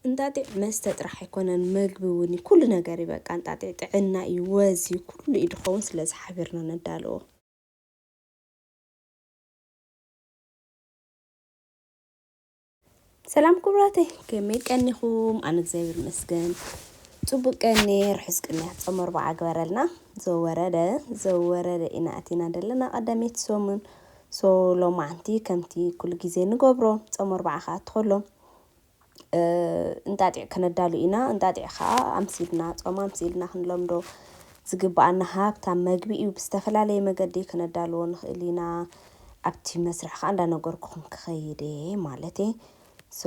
እንጣጢዕ መስተ ጥራሕ ኣይኮነን መግቢ ውን ዩ ኩሉ ነገር ዩ በቃ እንጣጢዕ ጥዕና ዩ ወዝ ዩ ኩሉ ዩ ድኸውን ስለዚ ሓቢርና ነዳልዎ። ሰላም ኩቡራተይ ከመይ ቀኒኹም ኣነ እግዚኣብሔር ይመስገን ጽቡቅ ቀንየ ርሑስ ቅንያት ጾመ ኣርብዓ ግበረልና ዘወረደ ዘወረደ ኢና ኣቲና ዘለና ቀዳመይቲ ሰሙን ሶ ሎማዓንቲ ከምቲ ኩሉ ግዜ ንገብሮ ጾመ ኣርብዓ ክኣቱ ከሎ እንጣጢዕ ከነዳሉ ኢና። እንጣጢዕ ኸኣ ኣምሲልና፣ ጾም ኣምሲልና ክንለምዶ ዝግብኣና ሃብታም መግቢ እዩ። ብዝተፈላለየ መገዲ ከነዳልዎ ንኽእል ኢና። ኣብቲ መስርሕ ኸኣ እንዳነገርኩኹም ክኸይድ እየ ማለት እየ። ሶ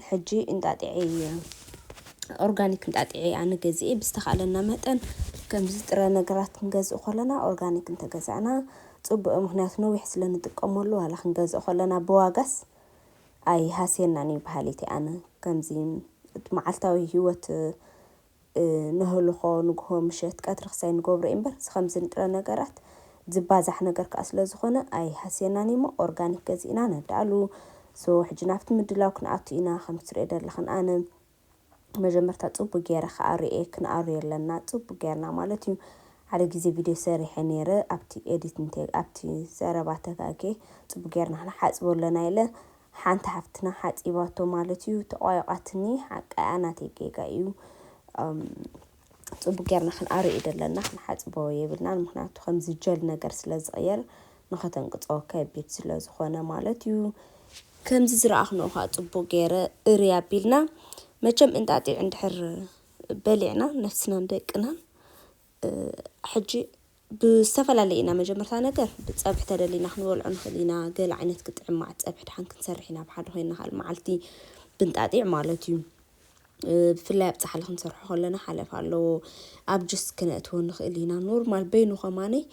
ሕጂ እንጣጢዐይ ኦርጋኒክ እንጣጢዐ እየ ኣነ ገዚኤ። ብዝተኻእለና መጠን ከምዚ ጥረ ነገራት ክንገዝእ ከሎና ኦርጋኒክ እንተገዛእና ጽቡቕ እዩ። ምኽንያቱ ነዊሕ ስለ ንጥቀመሉ ዋላ ክንገዝኦ ከሎና ብዋጋስ ኣይ ሃስየናን እዩ በሃሊት እየ ኣነ ከምዚ እቲ መዓልታዊ ሂወት ነህልኾ ንግሆ ምሸት ቀትሪ ክሳይ ንገብሮ እዩ እምበር እዚ ከምዚ ንጥረ ነገራት ዝባዛሕ ነገር ከኣ ስለ ዝኾነ ኣይ ሃስየናን እዩ እሞ ኦርጋኒክ ገዚእና ነዳሉ ሶ ሕጂ ናብቲ ምድላው ክንኣቱ ኢና ከምቲ ትሪኦ ደለኽን ኣነ መጀመርታ ጽቡቅ ጌረ ክኣርየ ክንኣርዮ ኣለና ጽቡቅ ጌርና ማለት እዩ ሓደ ግዜ ቪድዮ ሰሪሐ ኔረ ኣብቲ ኤዲት እንተ ኣብቲ ዘረባ ተጋግየ ጽቡቅ ጌርና ክንሓጽቦ ኣለና ኢለ ሓንቲ ሓፍትና ሓጺባቶ ማለት እዩ ተቋይቃትኒ ሓቃ እያ ናተይ ጌጋ እዩ ጽቡቅ ጌርና ክንኣሪ እዩ ደለና ክንሓጽቦ የብልናን ምክንያቱ ከምዚ ጀል ነገር ስለ ዝቅየር ንኸተንቅጾ ከቢድ ስለ ዝኾነ ማለት እዩ ከምዚ ዝረኣኽንኦ ኸኣ ጽቡቅ ገይረ እርይ ኣቢልና መቸም እንጣጢዕ እንድሕር በሊዕና ነፍስናን ደቅናን ሕጂ ብዝተፈላለየ ኢና መጀመርታ ነገር ብጸብሒ ተደሊና ክንበልዖ ንክእል ኢና ገለ ዓይነት ግጥዕም ማዓት ጸብሒ ድሓን ክንሰርሕ ኢና ብሓደ ኮይና ካል ማዓልቲ ብንጣጢዕ ማለት እዩ ብፍላይ ኣብ ጻሓሊ ክንሰርሖ ከለና ሓለፍ ኣለዎ ኣብ ጅስ ክነእትዎ ንክእል ኢና ኖርማል በይኑ ከማነይ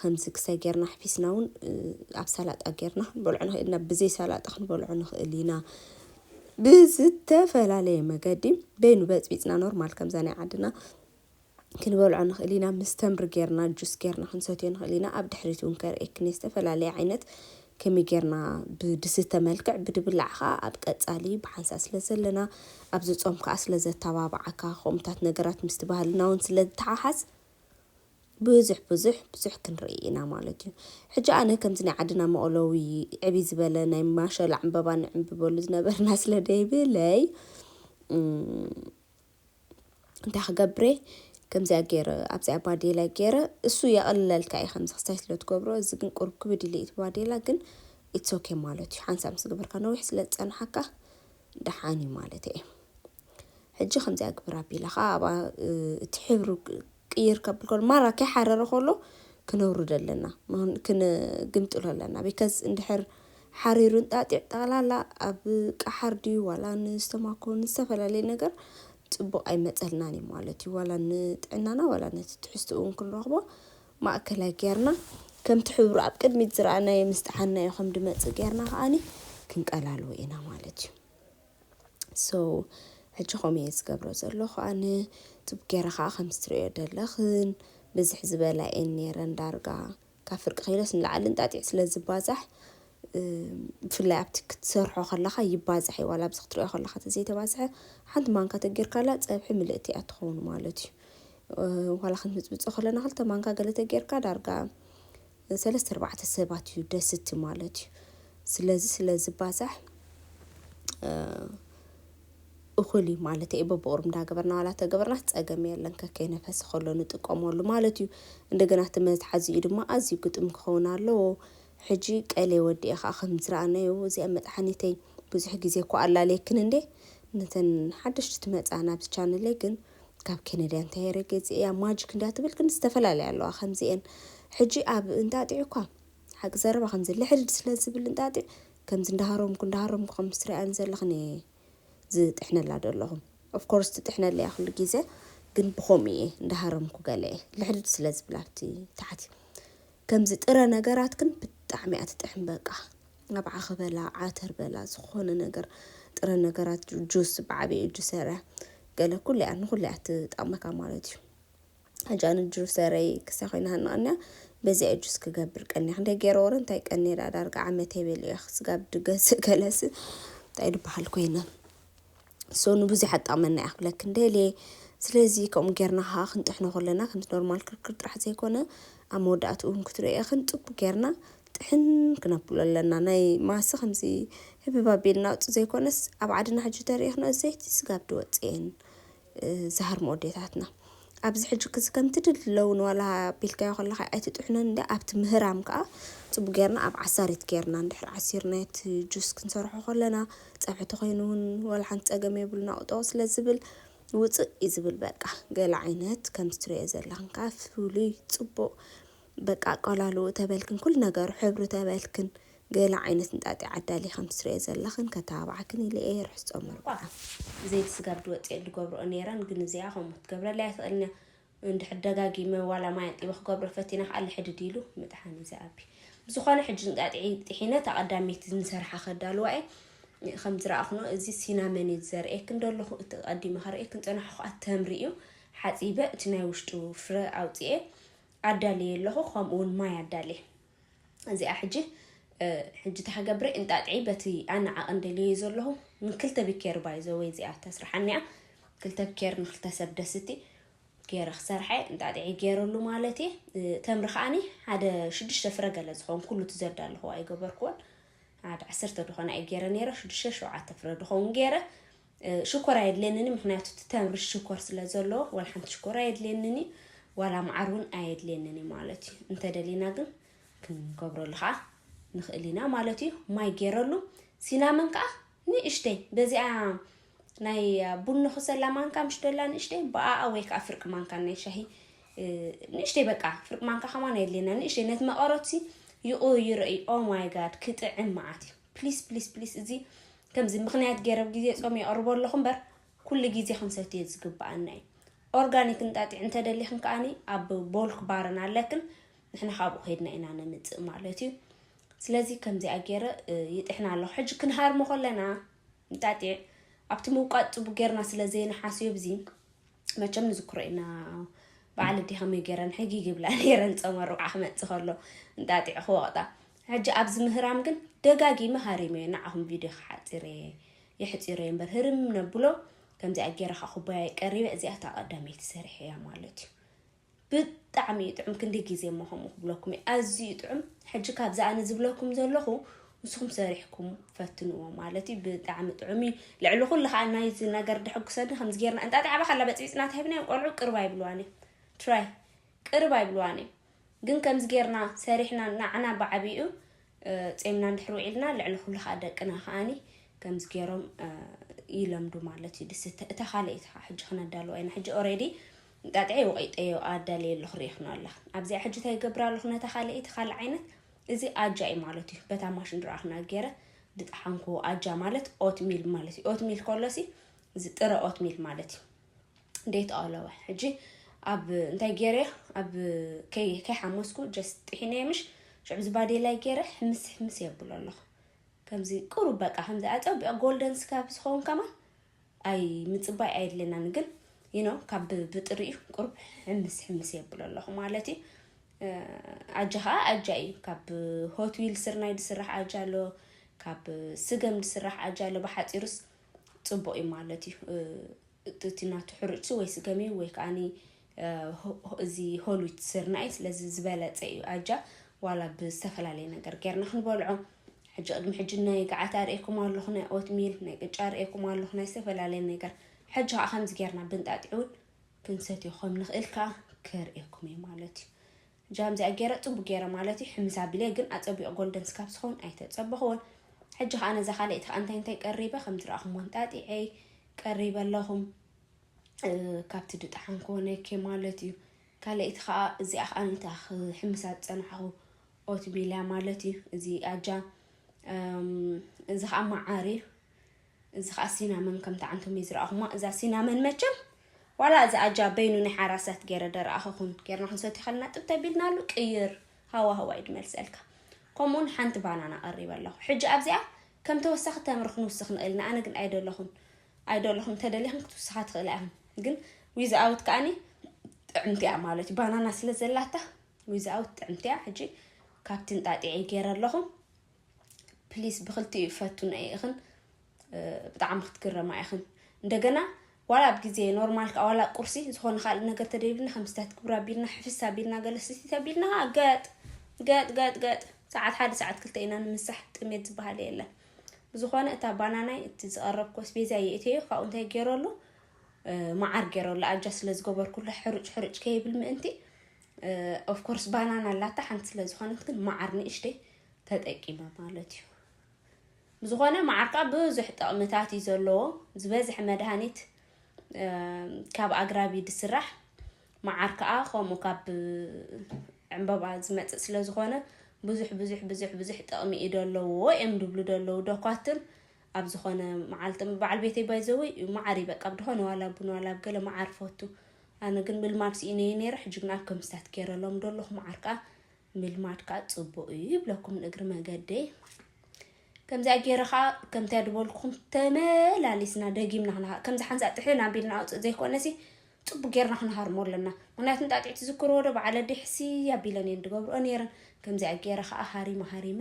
ከምዚ ክሳይ ጌርና ኣሕፊስና እውን ኣብ ሰላጣ ጌርና ክንበልዖ ንክእል ኢና ብዘይ ሰላጣ ክንበልዖ ንክእል ኢና ብዝተፈላለየ መገዲ በይኑ በጽቢጽና ኖርማል ከምዛ ናይ ዓድና ክንበልዖ ንኽእል ኢና ምስ ተምሪ ጌርና ጁስ ጌርና ክንሰትዮ ንኽእል ኢና ኣብ ድሕሪት እውን ከርእየኪ እኔ ዝተፈላለየ ዓይነት ከመይ ጌርና ብድስተ መልክዕ ብድብላዕ ከዓ ኣብ ቀፃሊ ብሓንሳእ ስለ ዘለና ኣብዚ ፆም ከዓ ስለ ዘተባብዓካ ከምኡታት ነገራት ምስቲ ባህልና እውን ስለ ዝተሓሓዝ ብዙሕ ብዙሕ ብዙሕ ክንርኢ ኢና ማለት እዩ ሕጂ ኣነ ከምዚ ናይ ዓድና መቕለዊ ዕቢ ዝበለ ናይ ማሸላ ዕምበባ ንዕምብበሉ ዝነበርና ስለ ደይብለይ እንታይ ክገብሬ ከምዚኣ ገይረ ኣብዚኣ ባዴላ ገይረ እሱ የቐልለልካ እዩ ከምዚ ክስታይ ስለ ትገብሮ እዚ ግን ቁርብ ክብድ ኢለ እቲ ባዴላ ግን ኢትስ ኦኬ ማለት እዩ ሓንሳብ ምስ ገበርካ ነዊሕ ስለ ዝፀንሓካ ደሓን እዩ ማለት እየ ሕጂ ከምዚኣ ግብር ኣቢላ ከዓ ኣብኣ እቲ ሕብሪ ቅይር ከብል ከሎ ማራ ከይሓረረ ከሎ ክነውርዶ ኣለና ክንግምጥሎ ኣለና ቢከዝ እንድሕር ሓሪሩ እንጣጢዕ ጠቕላላ ኣብ ቀሓር ድዩ ዋላ ንስተማኮ ንዝተፈላለየ ነገር ፅቡቕ ኣይመፀልናን እዩ ማለት እዩ ዋላ ንጥዕናና ዋላ ነቲ ትሕዝትኡ እውን ክንረኽቦ ማእከላይ ጌርና ከምቲ ሕብሩ ኣብ ቅድሚት ዝረኣናዮ ምስ ጠሓንናዮ ከም ድመፅእ ጌርና ከዓኒ ክንቀላልዎ ኢና ማለት እዩ ሶው ሕጂ ከምኡ እየ ዝገብሮ ዘለኹ ኣነ ቱብ ገይረ ኸዓ ከምቲ ትሪእዮ ዘለኽን ብዝሕ ዝበላ እየን ነይረን ዳርጋ ካብ ፍርቂ ኪሎስ ንላዕሊ እንጣጢዕ ስለ ዝባዛሕ ብፍላይ ኣብቲ ክትሰርሖ ከለኻ ይባዛሕ እዩ ዋላ ኣብዚ ክትሪኦ ከለኻ ተዘይተባዝሐ ሓንቲ ማንካ ተጌርካላ ፀብሒ ምልእቲ እያ ትኸውን ማለት እዩ ዋላ ክንምፅምፆ ከለና ክልተ ማንካ ገለ ተጌርካ ዳርጋ ሰለስተ ኣርባዕተ ሰባት እዩ ደስቲ ማለት እዩ ስለዚ ስለ ዝባዛሕ እኹል እዩ ማለት እዩ በብቑሩብ እንዳገበርና ዋላ ተገበርና ፀገም የለን ከከይነፈስ ከሎ ንጥቀመሉ ማለት እዩ እንደገና እቲ መትሓዚኡ ድማ ኣዝዩ ግጥም ክኸውን ኣለዎ ሕጂ ቀሌ ወዲኤ ከዓ ከም ዝረኣናዮ እዚኣ መጥሓኒተይ ብዙሕ ግዜ እኳ ኣላለየክን እንዴ ነተን ሓደሽቲ ትመፃ ናብዚ ቻነለይ ግን ካብ ኬነድያ እንታይ ረገጺ እያ ማጂክ እንድያ ትብል ግን ዝተፈላለያ ኣለዋ ከምዚኤን ሕጂ ኣብ እንጣጢዕ እኳ ሓቂ ዘረባ ከምዚ ልሕድድ ስለ ዝብል እንጣጢዕ ከምዚ እንዳሃረምኩ እንዳሃረምኩ ከም ትሪኣን ዘለኽን እየ ዝጥሕነላ ደለኹ ኦፍኮርስ ትጥሕነለ እያ ኩሉ ግዜ ግን ብኸምኡ እየ እንዳሃረምኩ ገለ እየ ልሕድድ ስለ ዝብል ኣብቲ ታሕቲ ከምዚ ጥረ ነገራት ግን ብጣዕሚ እያ ትጥሕን በቃ ኣብዓኺ በላ ዓተር በላ ዝኾነ ነገር ጥረ ነገራት ጁስ ብዓብኡ ጁሰረ ገለ ኩሉ እያ ንኹሉ እያ ትጠቕመካ ማለት እዩ ሕጂ ኣነ ጁሰረይ ክሳ ኮይና ሃናቕንያ በዚኣ ጁስ ክገብር ቀኒያ ክንደይ ገይረ ወረ እንታይ ቀኒየ ደኣ ዳርጋ ዓመተይ በሊያ ስጋብ ድገዝእ ገለስ እንታይ ድበሃል ኮይነ ሶ ንብዙሕ ኣጠቕመና እያ ክብለክ እንደልየ ስለዚ ከምኡ ጌርና ከዓ ክንጥሕኖ ከለና ከምቲ ኖርማል ክርክር ጥራሕ ዘይኮነ ኣብ መወዳእትኡ እውን ክትሪኦ ኢኽን ፅቡቅ ጌርና ጥሕን ክነብሎ ኣለና ናይ ማሰ ከምዚ ህብብ ኣቢልና ኣውጽእ ዘይኮነስ ኣብ ዓድና ሕጂ ተሪኢክና ዘይቲ ስጋብ ድወጽእ እየን ዝሃርሞ ኣዴታትና ኣብዚ ሕጂ ክዚ ከምቲ ድለውን ዋላ ኣቢልካዮ ከለካ ኣይትጥሕነን እንዲ ኣብቲ ምህራም ከዓ ጽቡቅ ጌርና ኣብ ዓሳሪት ጌርና እንድሕር ዓሲርና እቲ ጁስ ክንሰርሖ ከለና ጸብሒ ተኮይኑ እውን ዋላ ሓንቲ ጸገም የብሉን ኣውጦ ስለ ዝብል ውጽእ እዩ ዝብል በቃ ገለ ዓይነት ከምዚ ትሪኦ ዘለክን ከዓ ፍሉይ ጽቡቅ በቃ ኣቀላልውኡ ተበልክን ኩሉ ነገሩ ሕብሩ ተበልክን ገለ ዓይነት እንጣጢዕ ኣዳልየ ከም ትስርዮ ዘለኽን ከተባብዓክን ኢለ እየ ርሑስ ጾም ኣርብዓ። ዘይቲ ስጋ ብ ድወጽኤ ድገብርኦ ኔረን ግን እዚኣ ከምኡ ክትገብረለይ ኣይትኽእልን እያ እንድሕር ደጋጊመ ዋላ ማይ ኣንጢበ ክገብሮ ፈቲነ ከኣ ልሕድድ ኢሉ ምጥሓን እዩ ዝኣቢ ብዝኾነ ሕጂ እንጣጢዕ ጢሒነ እታ ቀዳመይቲ ንሰርሓ ከዳልዋ እየ ከም ዝረኣኽኖ እዚ ሲናመን እዩ ዝዘርእየክን ደለኹ እቲ ቀዲመ ከርእየክን ጸናሕኩ ኣተምሪ እዩ ሓጺበ እቲ ናይ ውሽጡ ፍረ ኣውጽኤ ኣዳልየ ኣለኹ ከምኡ ውን ማይ ኣዳልየ እዚኣ ሕጂ ሕጂ እንታይ ክገብረ እንጣጥዒ በቲ ኣነ ዓቕን ደልየዩ ዘለኹ ንክልተ ቢኬር ባይ ዘወይ እዚኣ ተስርሓኒያ ክልተ ቢኬር ንክልተ ሰብ ደስቲ ገይረ ክሰርሐ እንጣጥዒ ገይረሉ ማለት እየ ተምሪ ከዓኒ ሓደ ሽዱሽተ ፍረ ገለ ዝኸውን ኩሉ እቲ ዘዳለኹዎ ኣይገበርክዎን ሓደ ዓሰርተ ድኾነ ኣይ ገይረ ነይረ ሽዱሽተ ሸውዓተ ፍረ ድኸውን ገይረ ሽኮር ኣየድልየንን ምክንያቱ እቲ ተምሪ ሽኮር ስለ ዘለዎ ዋላ ሓንቲ ሽኮር ኣየድልየንን እዩ ዋላ መዓር እውን ኣየድልየንን እዩ ማለት እዩ እንተደሊና ግን ክንገብረሉ ከዓ ንኽእል ኢና ማለት እዩ ማይ ገይረሉ ሲናመን ከዓ ንእሽተይ በዚኣ ናይ ቡን ንኽሰላ ማንካ ምሽ ደላ ንእሽተይ ብኣኣ ወይ ከዓ ፍርቂ ማንካ ናይ ሻሂ ንእሽተይ በቃ ፍርቂ ማንካ ከማን ኣየድልየና ንእሽተይ ነቲ መቐረትሲ ይቕይሮ እዩ ኦ ማይ ጋድ ክጥዕም መዓት እዩ ፕሊስ ፕሊስ ፕሊስ እዚ ከምዚ ምክንያት ገይረ ኣብ ግዜ ጾም የቕርቦ ኣለኹ እምበር ኩሉ ግዜ ክንሰትዮ ዝግብኣና እዩ ኦርጋኒክ እንጣጢዕ እንተደሊኽን ከዓኒ ኣብ ቦልክ ባርን ኣለክን ንሕና ካብኡ ከይድና ኢና ነምፅእ ማለት እዩ ስለዚ ከምዚኣ ገይረ ይጥሕና ኣለኹ ሕጂ ክንሃርሞ ከለና እንጣጢዕ ኣብቲ ምውቃጥ ፅቡ ጌርና ስለ ዘይንሓስዮ ብዚ መቸም ንዝክሮ ኢና በዓል እዲ ከመይ ገይረን ሕጊግ ይብላ ነይረን ፀመ ርብዓ ክመፅእ ከሎ እንጣጢዕ ክወቕጣ ሕጂ ኣብዚ ምህራም ግን ደጋጊመ ሃሪመዮ ንዓኹም ቪድዮ ክሓጺረየ የሕጺረዮ እምበር ህርም ነብሎ ከምዚኣ ጌረ ከኣ ኩባያይ ቀሪበ እዚኣ እታ ቀዳመይቲ ሰሪሐ እያ ማለት እዩ ብጣዕሚ እዩ ጥዑም ክንዲ ግዜ እሞ ከምኡ ክብለኩም እዩ ኣዝዩ ጥዑም ሕጂ ካብዚ ኣነ ዝብለኩም ዘለኹ ንስኹም ሰሪሕኩም ፈትንዎ ማለት እዩ ብጣዕሚ ጥዑም እዩ ልዕሊ ኩሉ ከዓ ናይዚ ነገር ድሕጉሰኒ ከምዚ ጌርና እንጣጢ ዓባ ካላ በፅቢፅና ተሂብናዮም ቆልዑ ቅርብ ኣይብልዋን እዩ ትራይ ቅርብ ኣይብልዋን እዩ ግን ከምዚ ጌርና ሰሪሕና ናዓና ብዓቢኡ ጼምና እንድሕር ውዒልና ልዕሊ ኩሉ ከኣ ደቅና ከኣኒ ከምዚ ጌሮም ይለምዱ ማለት እዩ ድስ እታ ካልኣይቲ ከዓ ሕጂ ክነዳልዋ ኢና ሕጂ ኦሬዲ ጣጥዐይ ወቂጠዮ ኣዳልየ ኣለኹ ርኢኽኖ ኣለኽ ኣብዚኣ ሕጂ እንታይ ይገብር ኣለኹ ነታ ካልኣይቲ ካልእ ዓይነት እዚ ኣጃ እዩ ማለት እዩ በታ ማሽን ድረኣኽና ገይረ ድጠሓንኩዎ ኣጃ ማለት ኦትሚል ማለት እዩ ኦትሚል ከሎሲ እዚ ጥረ ኦትሚል ማለት እዩ ዴት ኣለወ ሕጂ ኣብ እንታይ ገይረ ኣብ ከይሓመስኩ ጀስ ጥሒነ ምሽ ሽዑ ዝባዴ ላይ ገይረ ሕምስ ሕምስ የብሎ ኣለኹ ከምዚ ቁሩ በቃ ከምዚ ኣፀቢቅ ጎልደን ስካብ ዝኸውን ከማ ኣይ ምፅባይ ኣይድልናን ግን ይኖ ካብ ብጥሪ እዩ ቁርብ ሕምስ ሕምስ የብሎ ኣለኹ ማለት እዩ ኣጃ ከዓ ኣጃ እዩ ካብ ሆትዊል ስርናይ ዝስራሕ ኣጃ ኣሎ ካብ ስገም ዝስራሕ ኣጃ ኣሎ ብሓፂሩስ ፅቡቕ እዩ ማለት እዩ እቲ ናቱ ሕሩጭ ወይ ስገም እዩ ወይ ከዓኒ እዚ ሆሉት ስርና እዩ ስለዚ ዝበለፀ እዩ ኣጃ ዋላ ብዝተፈላለየ ነገር ጌርና ክንበልዖ ሕጂ ቅድሚ ሕጂ ናይ ገዓት ኣርእኩም ኣለኹ ናይ ኦትሚል ናይ ቅጫ ኣርእኩም ኣለኹ ናይ ዝተፈላለየ ነገር ሕጂ ከዓ ከምዚ ጌርና ብንጣጢዕ እውን ክንሰትዮ ከም ንኽእል ከዓ ከርእኩም እዩ ማለት እዩ ጃም እዚኣ ገይረ ጽቡቅ ገይረ ማለት እዩ ሕምስ ኣቢለ ግን ኣጸቢቁ ጎልደን ስካብ ዝኸውን ኣይተጸበኽዎን ሕጂ ከዓ ነዛ ካልኣይቲ ከዓ እንታይ እንታይ ቀሪበ ከም ዝረኣኹም ኣንጣጢዐ ቀሪበ ኣለኹም ካብቲ ድጣሓን ኮነኬ ማለት እዩ ካልኣይቲ ከዓ እዚኣ ከዓ ንታ ክሕምሳ ዝፀናሕኹ ኦትሚልያ ማለት እዩ እዚ ኣጃ እዚ ከዓ መዓር እዩ እዚ ከኣ ሲናመን ከም ትዓንቶም እየ ዝረኣኹማ እዛ ሲናመን መቸም ዋላ እዚ ኣጃ በይኑ ናይ ሓራሳት ገይረ ደረኣኸኹን ጌርና ክንሰትዮ ከለና ጥብ ተቢልናሉ ቅይር ሃዋህዋ እዩ ድመልሰልካ ከምኡውን ሓንቲ ባናና ቀሪበ ኣለኹ ሕጂ ኣብዚኣ ከም ተወሳኺ ተምሪ ክንውስኽ ንኽእል ኢና ኣነ ግን ኣይደለኹን ኣይደለኹን እንተደሊኹም ክትውስኻ ትኽእላ ኢኹም ግን ዊዝኣውት ከዓኒ ጥዕምቲ እያ ማለት እዩ ባናና ስለ ዘላታ ዊዝኣውት ጥዕምቲ እያ ሕጂ ካብቲ እንጣጢዐ ገይረ ኣለኹ ፕሊስ ብክልቲኡ ፈቱና ኢኽን ብጣዕሚ ክትግረማ ኢኽን እንደገና ዋላ ኣብ ግዜ ኖርማል ከዓ ዋላ ቁርሲ ዝኾነ ካልእ ነገር ተደይብልና ከምስታት ክብራ ቢልና ሕፍስ ኣቢልና ገለስቲ ተቢልና ከዓ ገጥ ገጥ ገጥ ገጥ ሰዓት ሓደ ሰዓት ክልተ ኢና ንምሳሕ ጥሜት ዝበሃል የለን ብዝኾነ እታ ባናናይ እቲ ዝቐረብኩ ስቤዛ የእትዮ ካብኡ እንታይ ገይረሉ መዓር ገይረሉ ኣጃ ስለ ዝገበርኩሉ ሕሩጭ ሕሩጭ ከይብል ምእንቲ ኦፍ ኮርስ ባናና ኣላታ ሓንቲ ስለ ዝኾነት ግን መዓር ንእሽተይ ተጠቂመ ማለት እዩ ዝኾነ መዓር ከዓ ብዙሕ ጥቕምታት እዩ ዘለዎ ዝበዝሐ መድሃኒት ካብ ኣግራብ እዩ ዝስራሕ መዓር ከዓ ከምኡ ካብ ዕምበባ ዝመፅእ ስለ ዝኾነ ብዙሕ ብዙሕ ብዙሕ ብዙሕ ጥቕሚ እዩ ዘለዎ እዮም ዝብሉ ዘለዉ ዶኳትር ኣብ ዝኮነ መዓልቲ በዓል ቤተይ ባይዘወይ መዓር እዩ በቃ ብድኮነ ዋላ ቡን ዋላ ገለ መዓር ፈቱ ኣነ ግን ምልማድ ስኢነየ ነይረ ሕጂ ግን ኣብ ከምስታት ገይረሎም ደለኹ መዓር ከዓ ምልማድ ከዓ ፅቡቅ እዩ ይብለኩም ንእግሪ መገደይ ከምዚኣ ገይረ ከዓ ከምታ ድበልኩም ተመላሊስና ደጊምና ክና ከምዚ ሓንሳ ጥሕን ኣቢልና ኣውፅእ ዘይኮነሲ ፅቡቅ ጌርና ክንሃርሞ ኣለና ምክንያቱ ጣጢዕ ትዝክርዎ ዶ በዓለ ዲሕሲ ኣቢለን እየን ድገብርኦ ነይረን ከምዚኣ ገይረ ከዓ ሃሪመ ሃሪመ